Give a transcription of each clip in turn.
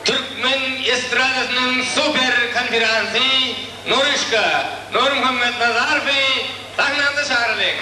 Türkmen estradasynyň super konferansy Nuryşka Nurmuhammetnazarowy sahnamyza çagyralyň.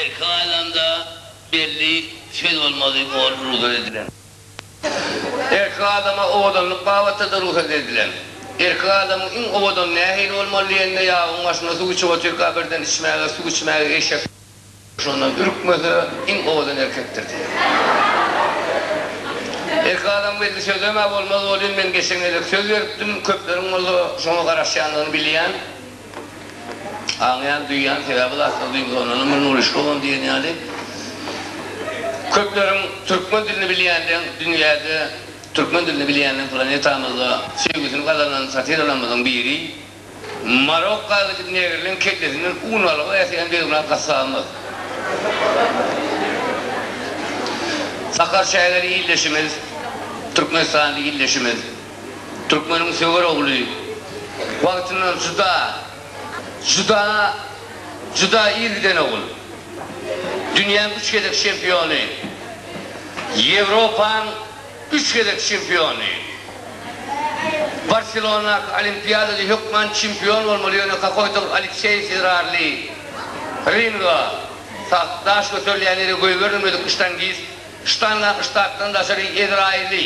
Erki aýlanda belli söz bolmaly orun rugsat edilen. Erkek adama owadanlyk babatda-da rugsat edilen. Erkek adamyň iň owadan nähili bolmaly diýende, ýabyň başynda suw içip otyrka birden içmäge, suw içmäge eşek şondan ürkmese, iň owadan erkekdir diýýär. Erkek adam belli sözlem-ä bolmaz welin, men geçen gezek söz beripdim, köpleriň bolsa şoňa garaşýandygyny bilýän. Aňýan, duýýan, sebäbi zatlar duýgusal ondan ömrüni ulyşka on diýen ýaly. Köpleriň türkmen dilini bilýänleň dünýäde türkmen dilini bilýänleň planetamyzda söýgüsini gazanan satirelamyzyň biri Marokka gidip negrileň kellesinden un alyga äteýän Begmyrat Gassabymyz. Sakar çägeli ildeşimiz, türkmenistanly ildeşimiz. Türkmeniň söwer ogly wagtyndan juda, juda, juda ir giden ogul. Dünýäň üç gezek çempiony, Ýewropaň üç gezek çempiony. Barselonadaky Olimpiadada hökman çempion bolmaly, ýöne kakoýtagyz Alekseý Ferrarli, Ringo, sag, daş göterilýän ýere goýberilmedik ştangist, ştanga, ştakdan daşary Ezraýyly.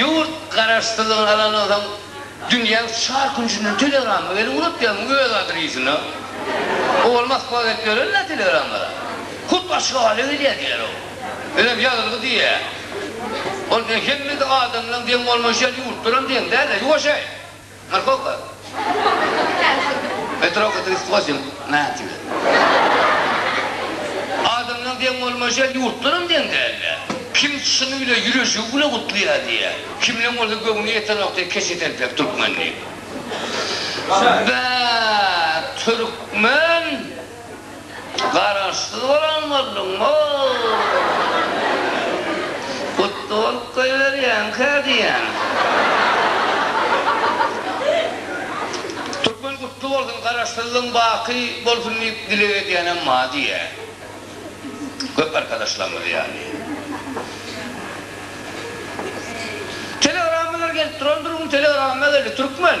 Ýurt garaşsyzlygyny alandan soň dünýäň çar künjünden telegramma geldi, unup ýörmüň öz adresini. Owal Moskwa gelip ýörenler telegrammalar. Hut Aşgabada gelýär diýýär o. Özem ýazylgy diýýär. Ol diýýär hemme adamlaň deň bolmaýşy ýaly ýurtlaram deň däl-de, ýuwaşaý. Parkowka. Petrowka trýsty goşuň. Natibe. Adamlaň deň bolmaýşy ýurtlaram deň däldi. Kim çyn bile ýüreşigi bile gutlaýar diýýär. Kimleň bolsa göwni ýetenok diýýär keçe telpek türkmen diýip. Bäh türkmen Garaşsyz bolan bolduňmo? Gutly bolup goýberýänkä diýýän. Türkmen gutly bolsun, Garaşsyzlygyň baky bolsun diýip dileg edýänem bar diýýä. Köp arkadaşlarymyz ýaly. Telegrammalar gelip duran durgun, telegramma geldi, Türkmen.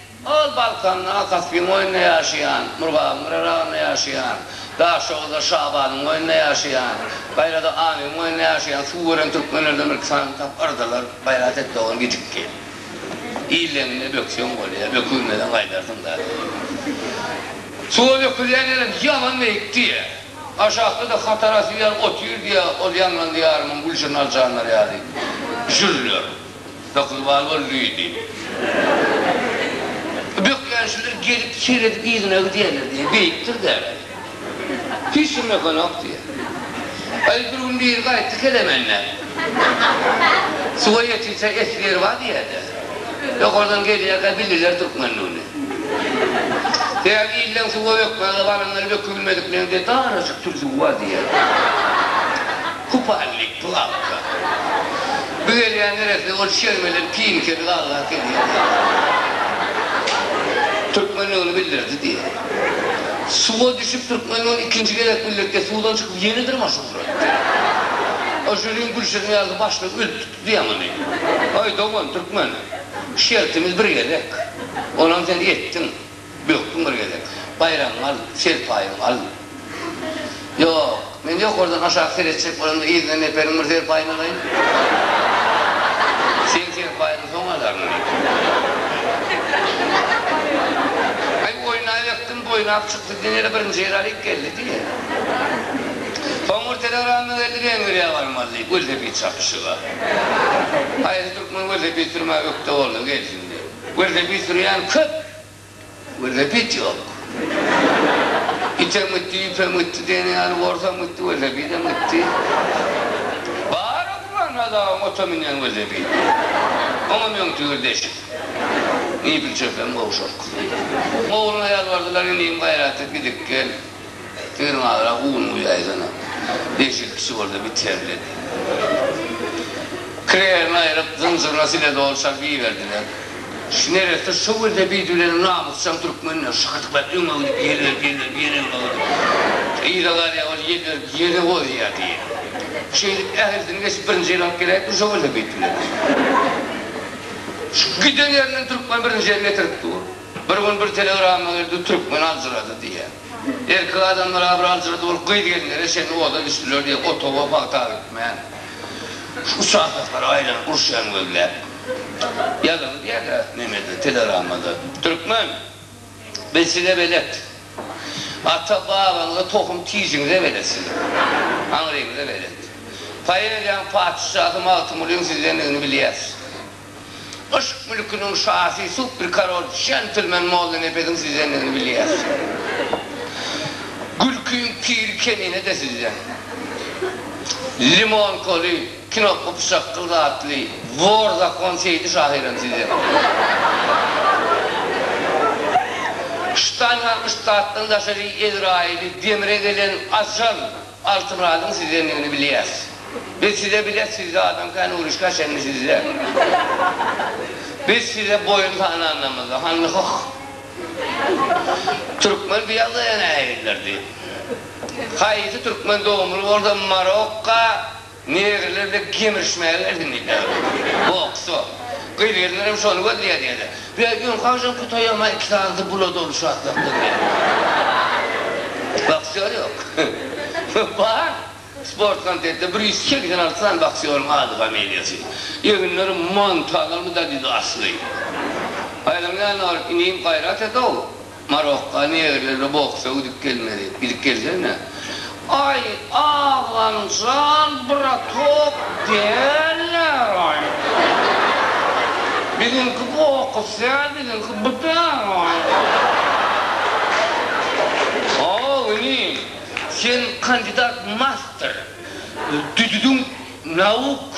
Ol Balkanda Kaspiň boýunda ýaşaýan, Murgabyň gyraragynda ýaşaýan, Daşoguzda Şabanyň boýunda ýaşaýan, gaýrada Amyň boýunda ýaşaýan suw gören türkmenlerden bir sany tapyrdylar, gaýrat et dogan gijikdi. Illeňinde bökseň bolýa, bökülmeseň gaýdarsyň da diýýär. Suwa bökülýän ýerem ýaman beýik diýýä. Aşakda-da hatara süýär, otyr diýýä, ol ýaňlan diýarymyň gülşirin aljanlary ýaly jürler. Hökürbal bol lüýdi. Bökýän şular gelip seredip yzyna gidýärler diýýär. Beýikdir-dä. Hiç kim ýokanok diýýär. Aý bir gün biri gaýtdy Kelemende. Suwa ýetirse esli ýeri bar diýýär-dä. Ýokardan gelýärkä bildiler türkmendigini. Däli ýyllan suwa bökmäge baranlar bökübilmedikleň diýýär. Darajyk türzügi bar diýýär. Kupalnik, plawka. Bügelýän neresine ol şer bilen pil kedi galga gelýär diýýär. Türkmenligini bildirdi diýýär. Suwa düşüp türkmenligini ikinji gezek bildirtge suwdan çykyp ýene dyrmaşyp ugrady. Oşeriň gülşirin ýaly başlygy ölüp tutdy ýamany. Aý dogan türkmen, şertimiz bir gezek. Onam sen etdiň. Bökdüm bir gezek. Baýragyňy al, serpaýyňy al. Ýok, men ýokardan aşak seretjek bolamda yzyna neperiň bir serpaýyny alaýyn. Sen serpaýyňy soň alaryn, diýdim. Aý, oýnaýbekdim, boýnap çykdy, diýen ýere birinji ýeri alyp geldi, diýýä. Soň bir telegramma geldi, Wengriýa barmaly, diýip, welosiped çapyşyga. Haýsy türkmen welosiped sürmäge ökde bolsa, gelsin, diýip. Welosiped sürýän köp, welosiped ýok. Item gitdi, ýüpem gitdi diýen ýaly, borsam gitdi, welosipedem gitdi. Bar oturan hazabyň ota münýän welosipedi. Oňam öň tüýr deşik. Mebel çöpem gowşak. Ogluna ýalbardylar, Inim, gaýrat et, gidip gel. Özüň agrak un guýaýsana. Beş-il kişi boldy, biterli. Kireýerini aýryp, zynjyryna sile doly çalyp iberdiler. Şu neresse şo gelse beýdi bilen namysjaň türkmenler şykytyklar öňe gidip ýel berip, ýel berip, ýene öňe gidip. Yza galýar, ol ýel berip ýere gozýar diýip. Şeýdip ählisini geçip birinji ýeri alyp geläýipdir şo gelse beýt bilen. Şu giden ýerinden türkmen birinji ýeri getirip dur. Bir gün bir telegramma geldi, Türkmen aljyrady diýýä. Erkek adamlar agyr aljyrady bolup, gyz-gelinlere çenli oda düşdüler diýýä, otaga pagta gitmän. Şu uçasoklary aýlanyp uruşýan gözläp. Ýazygy diýýä-de Memede, telegrammada, Türkmen, biz size belet. Ata-babaňyza tohum tijiňize belet siziň. Aňryňyza belet. Poeziýanyň patyşasy Magtymgulynyň sizdendigini bilýäs. Yşk mülküniň şasy, super karol, jentlmen Molla Nepesiň sizdendigini bilýäs. Gülkiň piri Kemine-de sizden. Limonkaly, kinopka pyşakgyl zatly, wor zakon Seýdi şahyrem sizden. Ştaýhan Ştatdan daşary Ezraýyly, demre gelen Ajal. Altymyradyň sizdendigini bilýäs. Biz size bile sizde adam kän uruşka çenli sizde. Biz size boýun sananymyzda hany hyh. Türkmen bu ýagdaýa nähilidir diýip. Haýsy türkmen dogumly bolsa Marokka Negriler de gemirişmäge gelsin diýýärler. Boksa. Gyz-gelinler hem şony gözleýär diýeli. Ýa ýöne haçan kutaýamaý iki sanysy bula doluşy atlapdyr diýýär. Boksýor ýok. Bar. Sport komitetde bir ýüz segsen alty sany boksýoryň ady familiýasy. Eginleri mantalarmy da diýdi asly. Aýlaň ýanyna baryp, Inim gaýrat et-ow! Marokka negrleri boksa gidip gelmeli gidip gelsene. Aý agamjan bratok dälläraý biziňki boks däl biziňki bdaýaý. How ini sen kandidat master düdüdiň nauk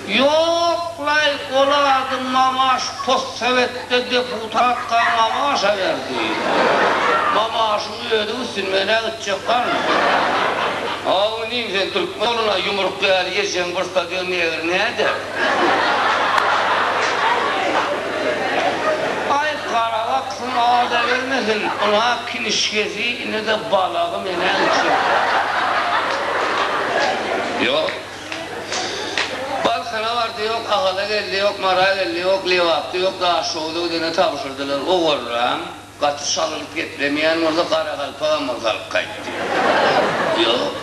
Ýoklaý olady Mamaş postsowetde deputatga Mamaşa berdi. Mamaşyň özi üstün menä gitjek galdy. Haw inim sen türkmen ogluna ýumruk ýaly ýeseň bir stadion negr näder. Aý garabaksyň azabermesin ynha kinişgesi inede balagy menä gitjek. Ýok. Balkana bardy ýok, Agala geldi ýok, Mara geldi ýok, Lebapda ýok, Daşoguzda gidene tabşyrdylar. Owallaň, gaty çalylyp geplemeýän bolsa, garagalpagam bolsa alyp gaýtdy. Ýok.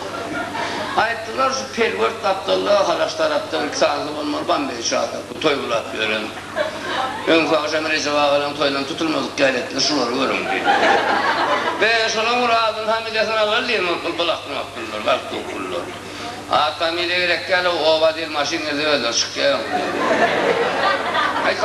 Aýtdylar, şu pelwert gapdalda, Halaç tarapda bir kitansa bolmaly, Bambeý çadyr, bu toý gylap ýören. Öňki agşam Rejep agalaň toýundan tutulmadyk gäletler şulary görüň diýip. Be, şolaň bir adyny-familiýasyny alalymy, bul-bul akmak pullar, galplyk pullar. At familiýa gerek däl ow oba dil maşyn girdi özleri çykýa öň.